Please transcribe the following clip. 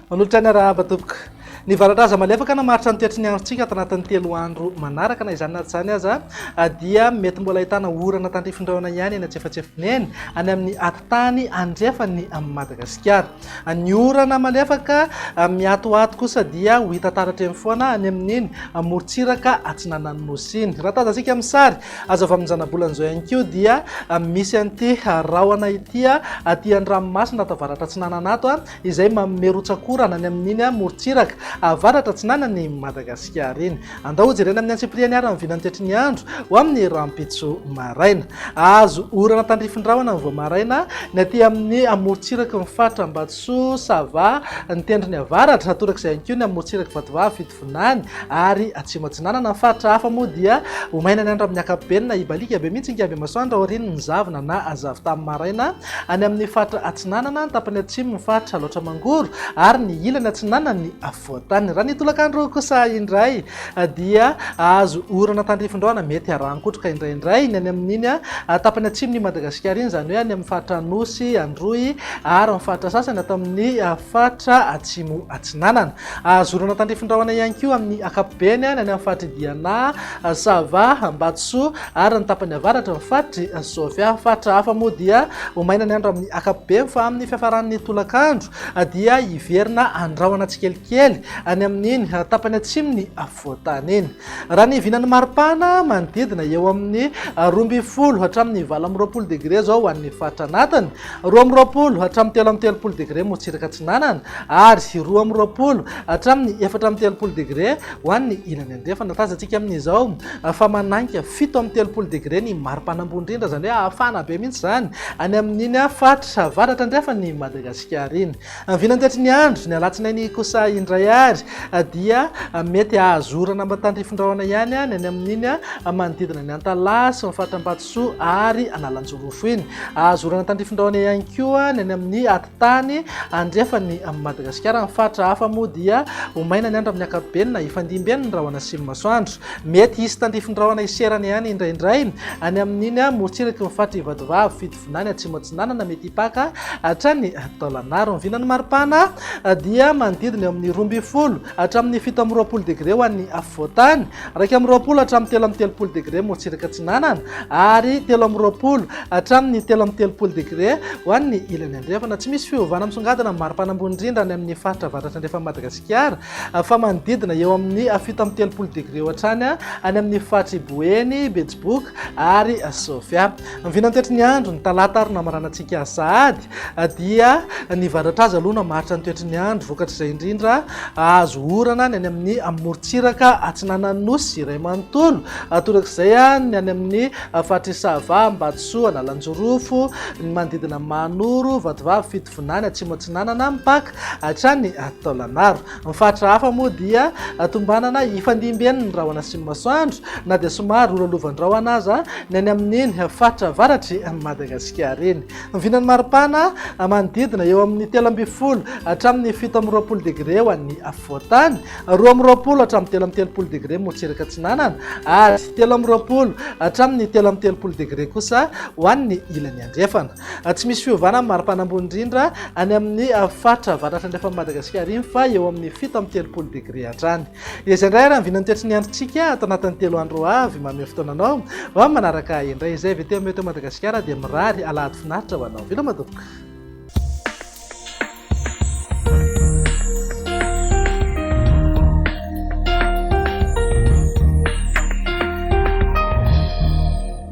Manolotra ny arahaba tompoko. Ny varadraza malefaka namaritra ny toetry ny androntsika tanatin'ny telo andro manaraka na izany na izany aza dia mety mbola ahitana orana tandrifindraona ihany eny antsefatsefiny eny any amin'ny atitany andrefany amin'i Madagasikara. Ny orana malefaka miatoato kosa dia ho hita taratra eny foana any amin'iny morontsiraka atsinanan'ny Nosy iny. Raha tazantsika amin'ny sary azo avy amin'ny zanabolana izao ihany koa dia misy an'ity rahona ity aty an-dranomasina ato avaratra atsinanana ato izay manome rotsak'orana any amin'iny morontsiraka avaratra atsinanan'i Madagasikara iny. Andao hojerena amin'ny antsipiriany ary amin'ny vinany tetry ny andro ho amin'ny rahampitso maraina. Hahazo orana tandrifin-drahona amin'ny vao maraina ny aty amin'ny amorontsiraky ny faritra Ambatosoa, Sava, ny tendrony avaratra, torak'izay ihany koa ny amorontsiraky Vatovavy, Fitovinany ary Atsimo Atsinanana. Ny faritra hafa moa dia ho maina ny andro amin'ny ankapobeny na hibaliaka be mihitsy ny kiabiamasoandro aorian'ny zavona na zavon-tany maraina any amin'ny faritra Atsinanana, ny tapany atsimo, ny faritra Alaotra Mangoro ary ny ilany atsinanan'ny Voatany. Raha ny tolakandro kosa indray dia hahazo orana tandrifindraona mety harahan-kotroka indraindray ny any amin'iny tapany atsimon'i Madagasikara iny, izany hoe any amin'ny faritra Anosy, Androy ary amin'ny faritra sasany ato amin'ny faritra Atsimo Atsinanana. Hahazo orana tandrifindraona ihany koa amin'ny ankapobeny any amin'ny faritr'i Diana, Sava, Ambatosoa ary ny tapany avaratra ny faritr'i Sofia. Faritra hafa moa dia ho maina ny andro amin'ny ankapobeny fa amin'ny fiafaran'ny tolakandro, dia hiverina handrahona tsikelikely any amin'iny tapany atsimon'ny afovoan-tany iny. Raha ny vinan'ny maripana, manodidina eo amin'ny roa ambin'ny folo hatramin'ny valo amby roapolo degre izao ho an'ny faritra anatiny, roa amby roapolo hatramin'ny telo amby telopolo degre morontsiraka atsinanana ary roa amby roapolo hatramin'ny efatra amby telopolo degre ho an'ny ilany andrefana. Tazantsika amin'izao fa manainga fito amby telopolo degre ny maripana ambony indrindra, izany hoe hafana be mihitsy izany any amin'iny faritra. Sa varatra ndray fa ny Madagasikara iny. Vinanty hatry ny andro, ny alatsinainy kosa indray ary dia mety hahazo orana aman-tandrifindrahona ihany ny any amin'iny manodidina ny Antalaha sy ny faritra Ambatosoa ary Analanjirofo iny. Hahazo orana tandrifindrahona ihany koa ny any amin'ny atitany andrefan'i Madagasikara. Amin'ny faritra hafa moa dia ho maina ny andro amin'ny ankapobeny na hifandimby ny rahona sy ny masoandro. Mety hisy tandrifindrahona hiserana ihany indraindray any amin'iny morontsiraky ny faritr'i Vatovavy. na ny atsimo atsinanana mety hipaka hatrany taolanaro. Ny vinan'ny maripana dia manodidina eo amin'ny roa ambin'ny folo hatramin'ny fito amby roapolo degre ho an'ny afovoan-tany, iraika amby roapolo hatramin'ny telo amby telopolo degre morotsiraka atsinanana ary telo amby roapolo hatramin'ny telo amby telopolo degre ho an'ny ilany andrefana. Tsy misy fiovana misongadina amin'ny maripana ambony indrindra any amin'ny faritra avaratra andrefan'i Madagasikara fa manodidina eo amin'ny fito amby telopolo degre eo hatrany any amin'ny faritr'i Boeny, Betsiboka ary Sofia. Ny vinantoetry ny andro, ny talata ary ny namaranantsika azy sahady dia ny varatra azy aloha no hamaritra ny toetry ny andro, vokatr'izay indrindra hahazo orana ny any amin'ny morontsiraka atsinanan'ny Nosy iray manontolo, torak'izay ny any amin'ny faritr'i Sava, Ambatosoa, Analanjorofo, ny manodidina Mahanoro, Vatovavy, Fitovinany, Atsimo Atsinanana, Mpaka, hatrany Taolagnaro. Ny faritra hafa moa dia tombanana ifandimbian'ny ny rahona sy ny masoandro na dia somary lolalovan-drahona aza ny any amin'iny faritra avaratr'i Madagasikara iny. Ny vinan'ny maripana manodidina eo amin'ny telo ambin'ny folo hatramin'ny fito amby roapolo degre ho an'ny afovoan-tany, roa amby roapolo hatramin'ny telo amby telopolo degre morotsiraka atsinanana ary telo amby roapolo hatramin'ny telo amby telopolo degre kosa ho an'ny ilany andrefana. Tsy misy fiovana amin'ny maripana ambony indrindra any amin'ny faritra avaratra andrefan'i Madagasikara iny fa eo amin'ny fito amby telopolo degre hatrany. Ezay indray ary ny vinan'ny toetry ny androntsika ato anatin'ny telo andro ho avy. Mameho fotoana anao ho amin'ny manaraka indray. Izay avy ety Meteo Madagasikara dia mirary alahady finaritra ho anao. Veloma tompoko!